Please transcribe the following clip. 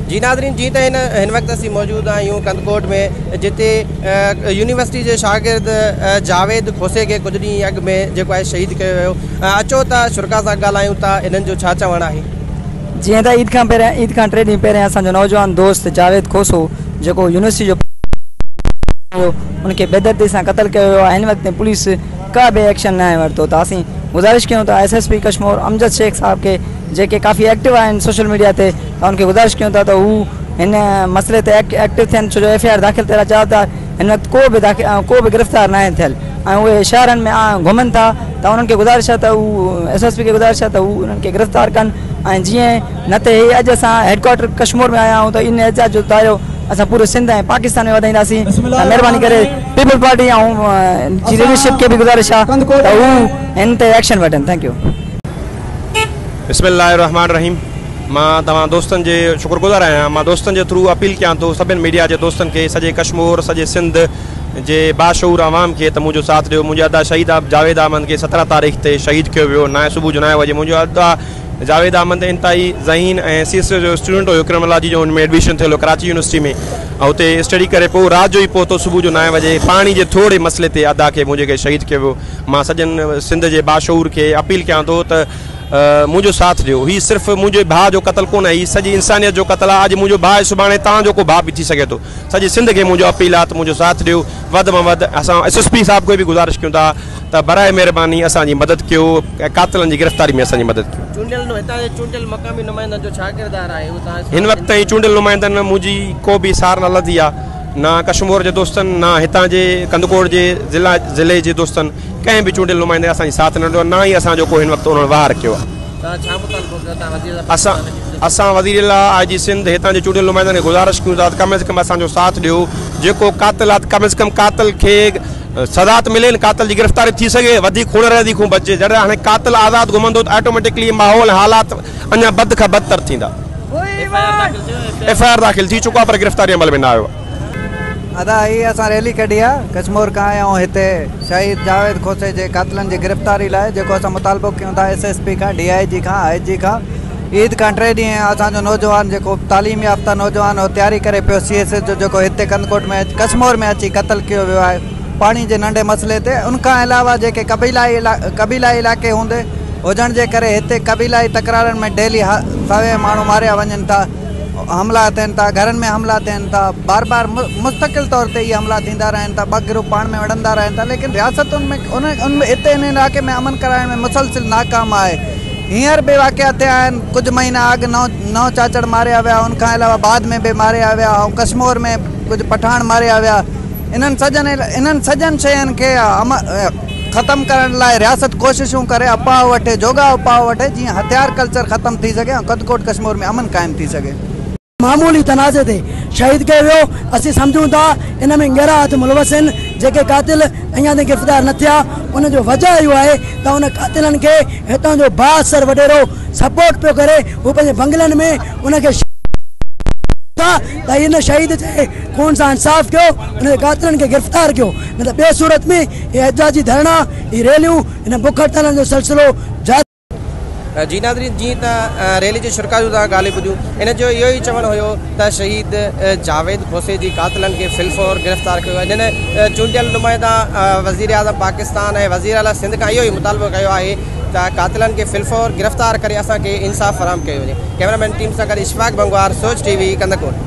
جي ناظرين جي ته هن وقت اسين موجود آهيون ڪنڌڪوٽ ۾ جتي يونيورسٽي جي شاگرد جاويد کوسي کي ڪجهه ڏينهن اڳ ۾ جيڪو آهي شهيد ڪيو ويو اچو ته شرڪاء سان ڳالهايون ته انهن جو ڇا چوڻ آهي. جيئن ته عيد کان پهريان عيد کان ٽي ڏينهن پهريان اسان جو نوجوان دوست جاويد کوسو جيڪو يونيورسٽي جو پڙهندڙ هو ان کي بيدردي سان قتل ڪيو ويو آهي هن وقت تائين پوليس ڪا به ايڪشن ناهي ورتو ته اسين گذارش ڪيون ٿا S S P Kashmore Amjad Shaikh sahib کي جيڪي ڪافي ايڪٽو آهن سوشل ميڊيا تي ان کي گذارش ڪيون ٿا ته هو هن مسئلي تي ايڪٽو ٿين ڇو جو ايف آء آر داخل ٿيل چاهو ته هن وقت ڪو به ڪو به گرفتار نه آهن ٿيل ۽ اهي شهرن ۾ گهمن ٿا ته انهن کي گذارش ته هو ايس ايس پي کي گذارش ته هو انهن کي گرفتار ڪن ۽ جيئن نه ته هي اڄ اسان هيڊڪوارٽر ڪشمور ۾ آيا آهيون ته ان احتجاج جو دائرو اسان پوري سنڌ ۽ پاڪستان ۾ وڌائينداسين مهرباني ڪري پيپلز پارٽي ۽ جي ليڊرشپ کي به گذارش آ ته هو هن تي ايڪشن وٺن ٿينڪ يو بسم الله الرحمن الرحيم مان توهان دوستن جي شڪر گذار آهيان مان دوستن جي ٿرو اپيل ڪيان ٿو سڀين ميڊيا جي دوستن کي سڄي ڪشمور سڄي سنڌ جي باشعور عوام کي ته منهنجو ساٿ ڏيو منهنجي ادا شهيد جاويد احمد کي سترهن تاريخ تي شهيد ڪيو ويو نائين صبح جو نائين وڄي منهنجو ادا جاويد احمد انتهائي ذهين ۽ سي ايس اي جو اسٽوڊنٽ هيو ڪرمنالاجي جو ان ۾ ايڊميشن ٿيل هو ڪراچي يونيورسٽي ۾ ۽ اتي اسٽڊي ڪري پيو رات جو ئي پهتو صبح جو نائين وڄي پاڻي جي ٿورڙي مسئلي تي ادا کي منهنجي کي شهيد ڪيو ويو مان سڄن سنڌ جي باشعور کي اپيل ڪيان ٿو ته منهنجو ساٿ ڏيو. هي صرف منهنجي ڀاء جو قتل ڪونه آهي، هي سڄي انسانيت جو قتل آهي. اڄ منهنجو ڀاء سڀاڻي توهان جو ڪو ڀاء به ٿي سگهي ٿو. سڄي سنڌ کي منهنجو اپيل آهي ته منهنجو ساٿ ڏيو وڌ مان وڌ. اسان ايس ايس پي صاحب کي به گذارش ڪيون ٿا ته برائي مهرباني اسان جي مدد ڪيو ۽ قاتلن جي گرفتاري ۾ اسان جي مدد ڪيو. چونڊيل نو هتان جي چونڊيل مقامي نمائندن جو ڇا ڪردار آهي اهو توهان هن وقت تائين چونڊيل نمائندن منهنجي ڪو به سار نه لڌي آهي نه ڪشمور جي دوستن نه هتان جي ڪنڌڪوٽ جي ضلع ضلعي جي دوستن ڪنهن به چونڊيل نمائندي اسان جي ساٿ نه ڏنو آهي نه ئي اسان جو ڪو هن وقت انهن وهار ڪيو آهي. اسان اسان وزيراعليٰ، آء جي سنڌ، هتان جي چونڊيل نمائندن کي گذارش ڪيون ٿا ته ڪم از ڪم اسان جو ساٿ ڏيو، جيڪو قاتل آهي ته ڪم از ڪم قاتل کي سزا ته ملي نه قاتل جي گرفتاري به ٿي سگهي، وڌيڪ خون ريزي کون بچجي، جڏهن هاڻي قاتل آزاد گهمندو ته آٽوميٽڪلي هي ماحول ۽ حالات اڃا بد کان بدتر ٿيندا. ايف آء آر داخل ٿي چڪو آهي پر گرفتاري عمل ۾ نه آيو آهي. ادا هي اسان ريلي ڪڍي آ ڪشمور کان آيا آهيون هتي شهيد جاويد کوسي جي قاتلن جي گرفتاري لاء جيڪو اسان مطالبو ڪيون ٿا ايس ايس پي کان ڊي آئي جي کان آئي جي کان عيد کان ٽي ڏينهن اسان جو نوجوان جيڪو تعليم يافته نوجوان هو تياري ڪري پيو سي ايس ايس جو جيڪو هتي ڪنڌڪوٽ ۾ ڪشمور ۾ اچي قتل ڪيو ويو آهي پاڻي جي ننڍي مسئلي تي ان کان علاوه جيڪي قبيلائي قبيلائي علائقي هوندي هجڻ جي ڪري هتي قبيلائي تڪرارن ۾ ڊيلي سوين ماڻهو ماريا وڃن ٿا حملا ٿين ٿا گهرن ۾ حملا ٿين ٿا بار بار مستقل طور تي اهي حملا ٿيندا رهن ٿا ٻه گروپ پاڻ ۾ وڙهندا رهن ٿا ليڪن رياستن ۾ ان ۾ هتي ان علاقي ۾ امن ڪرائڻ ۾ مسلسل ناڪام آهي هينئر به واقعا ٿيا آهن ڪجهه مهينا اڳ نو نو چاچڙ ماريا ويا ان کان علاوه بعد ۾ به ماريا ويا ۽ ڪشمور ۾ ڪجهه پٺاڻ ماريا ويا انهن سڄن انهن سڄن شين کي ختم ڪرڻ لاء رياست ڪوششون ڪري اپاء وٺي جوڳا اپاء وٺي جيئن هٿيار ڪلچر ختم ٿي سگهي ۽ ڪڌڪوٽ ڪشمور ۾ امن قائم ٿي سگهي. معمولي تنازعي تي شهيد ڪيو ويو اسين سمجهون ٿا ان ۾ ڳهرا هٿ ملوث آهن جيڪي قاتل اڃا تائين گرفتار نه ٿيا ان جو وجهه اهو آهي ته ان قاتلن کي هتان جو بااثر وڏيرو سپورٽ پيو ڪري هو پنهنجي بنگلن ۾ ان کي شهيد ڪري ڇڏين ٿا. ته هن شهيد جي خون سان انصاف ڪيو ان جي قاتلن کي گرفتار ڪيو نه ته ٻي صورت ۾ هي احتجاجي ڌرڻا هي ريليون هن بک هڙتالن جو سلسلو جاري جي ناظرين جيئن ته ريلي جي شرڪا جون توهان ڳالهيون ٻڌيون ان جو اهو ئي چوڻ هيو ته شهيد جاويد کوسي جي قاتلن کي في الفور گرفتار ڪيو وڃن چونڊيل نمائندا وزيراعظم پاڪستان ۽ وزيراعليٰ سنڌ کان اهو ئي مطالبو ڪيو آهي ته قاتلن کي في الفور گرفتار ڪري اسان کي انصاف فراهم ڪيو وڃي ڪيمرامين ٽيم سان گڏ اشفاق بنگوار سوچ ٽي وي ڪنڌڪوٽ